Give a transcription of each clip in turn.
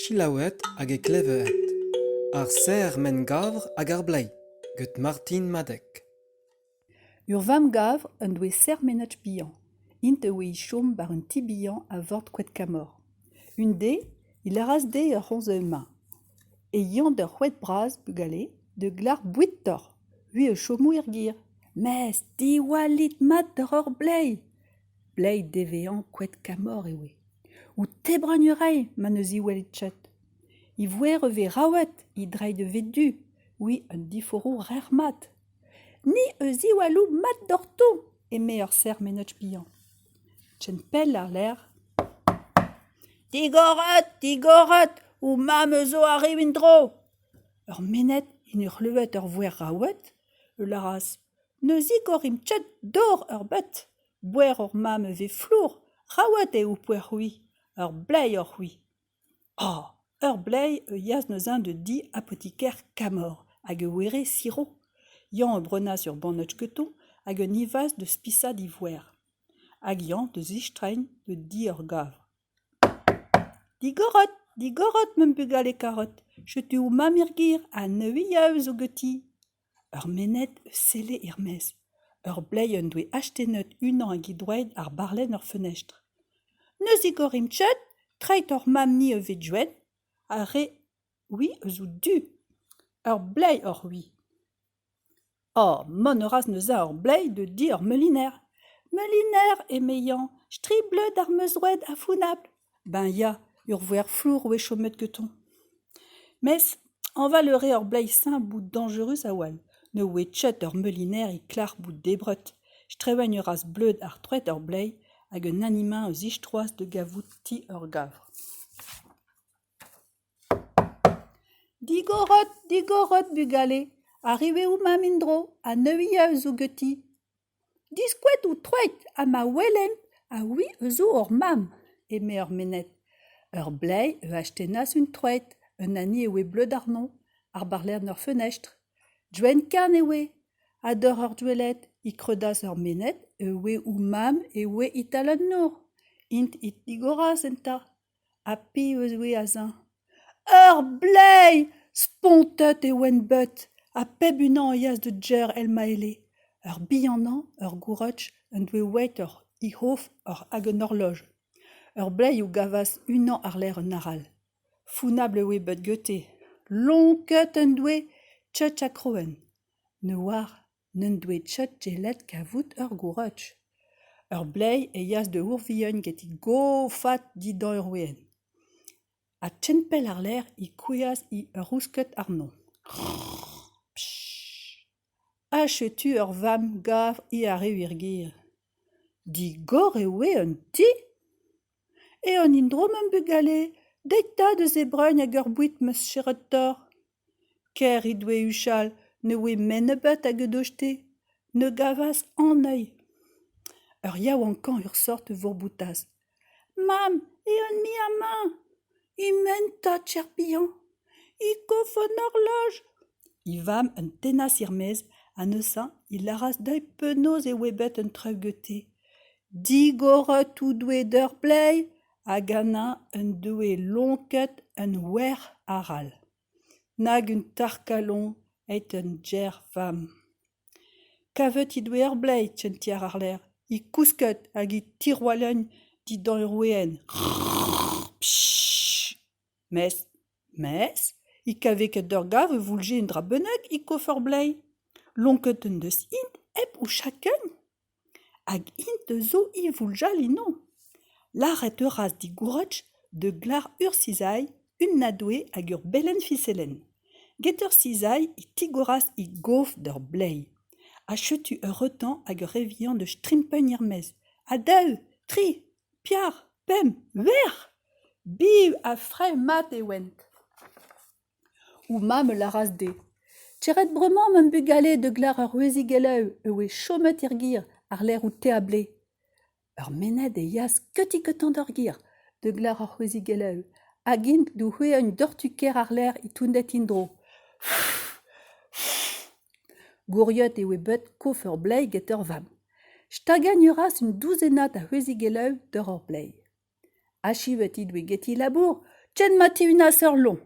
Selaouet hag eklevet ar serr-men-gavr hag ar bleiz get Martin Madeg. Ur vamm-gavr en doe serr-menaj bihan. Int a oe é chom war un ti bihan a vord Koedkamor. Un dez e lâras dezhe ur c'homz evel ma. e yañt ur c'hoed bras, bugale, da glac'h boued doc'h, vui a chomo er gêr. Mes diwallit mat doc'h hor bleiz ! Bleiz devezañ koed kamor e oe. O tebragn a rae ma ne ziwelit chet. E voer a vez raouet, he dreid a vez du, oui, un diforo rec'h-mat. Ni a ziwallo mat doc'hto, eme ur serr-menaj bihan. Ken pell àr-lerc'h. Digoret, digoret, ho mamm zo arriv en-dro. Ur mennet en doa klevet ur voer raouet, e lâras Ne zigorimp ket dor ebet. Boer hor mamm e vez flour, raouet eo ho poer c'hwi, ur bleiz oc'h-c'hwi. Oh ! ur bleiz a yeas neuze da di apotiker Kamor hag e were siro. Yann a brenas ur bannotz keton hag un ivazh da spisaat e voer. Hag Yann da zistreiñ da di ur gavr. Digorot, digorot, ma bugale karot, setu ho mamm er gêr ha neuiañ zo ganti. Ur mened eus selle er-maez. Ur bleiz en doe astennet unan eget doueed ar barlenn er fenestr. Ne zigorimp ket, treiñ hor mab-ni a vez Gwenn, ar re-c'hwi a zo du. Ur bleiz oc'h-c'hwi. Oh, mont a ras neuze ur bleiz da di ur meuliner. Meuliner, eme Yann, stribleud ar meuzroed ha founabl. Ben ya, ur voer flour a oa chomet gantañ. Mes hañval a rae ur bleiz simp bout dañjerus a-walc'h. Ne oe ket ur meuliner e klec'h bout debret. Strevañ a ras bleud ha troet ur bleiz hag un animañ a zistroas da gavout ti ur gavr. Digorot, digorot, bugale, arrivez où, mam en-dro, ha neuiañ a zo ganti ? Diskouezout troet ha ma welen a-ouiz a zo hor mamm, eme ar menez. Ur bleiz a astennas un troed, un hini e oe bleud àrnomp, ar barlerien ur fenestr. Gwenn-kaer e oe, ha doc'h ar douelled e kreudas ar menez, e oe o mamm e oe e-tal an nor. Int e tigoras eta. Ha piv a zoue azañ ? Ur bleiz ! Spontet e oent bet, ha pep unan a yeas da Jer el-Maele. Ur bihanañ, ur gourotj, en doe weet ur c'hi-c'hof hag un horloj. Ur bleiz o gavas unan àr-lerc'h un arall. Funabl e oe bet gete. Lonket en doe, tchetch ha kroen. Ne oar. N'en doe Tchatchelet kavout ur gourach. Ur bleiz e yeas da Ourvihan getek gofat dindan ur weenn. Ha tchempel àr-lerc'h e kouezhas ur rousked àrnon. Ha setu ur vamm gav he arrev er gêr. Digor e oe an ti. Eo an indro, ma'm bugale. Deit 'ta deus e bragn hag ur boued ma cheratoc'h. Ker he doe huchal ne oe men nebeut hag he doe-te ne gavas an heuil. Ur yaouankañ ur sort a vourboutas : Mamm, eeun-mui amañ ! He-ment 'ta, cher pihañ, he kof an horloj ! He vamm an tennas er-maez ha neuze he lâras dezhi penaos e oe bet un treugeute. Digor tout doe d'ur pleiz hag Anna en doe lonket un wer arall, nag un tarkalon eton Ger vamm. Kavet he doe ur bleiz en ti àr-lerc'h, he kousket hag he tirwalagn dindan ur weenn. Mes, mes, he kave ket ur gav e voulje un dra bennak e kof ur bleiz. Lonket en deus-hi hep o chakent. Hag int zo ivouljal eno ? Lâret a ras dit Gourretch da glar ur sizhailh, un adoue hag ur belenn fiselenn. Get ur sizhailh e tigoras he gof d'ur bleiz. Ha setu ur reutañ hag ur re vihan da strimpagn er-maez. Ha daou, tri, piar, pemp, verr ! Biv ha fraezh mat e oant ! Ho mamm a lâras dezhe : Tec'het bremañ, ma'm bugale, da gleür ur wezhig e-lev e oe chomet er gêr àr-lerc'h ho teab-lez. Ur mened e yas keuti-keutañ d'ur gêr da gleür ur wezhig e-lev hag int d'o c'hwezhañ un dortu-kaer àr-lerc'h e tounded en-dro. Gouriot e oe bet kof ur bleiz get ur vamm. Stagañ a ras un douzennad a wezhig e-lev doc'h ur bleiz. Achu eo dit geti labour ken ma tihunas ur loñ.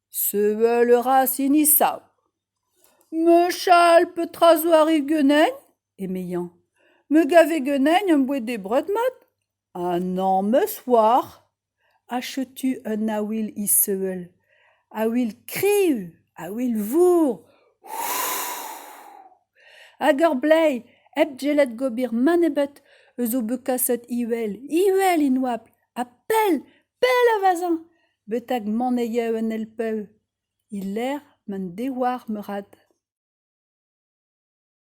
Sevel a ra sinisav. Mechal petra zo arri ganen? eme Yann. Me gave ganen am boa debret mat ha nammez oar. Ha setu un aouil issevel. Aouil kriv, aouil vour. Hag ur bleiz hep sellet gober mann ebet eus o bet kaset iwel, iwel en oabl, ha pell, pell a vezañ betek mont e yev en Elpeù, e-lec'h m'en devoar meurat.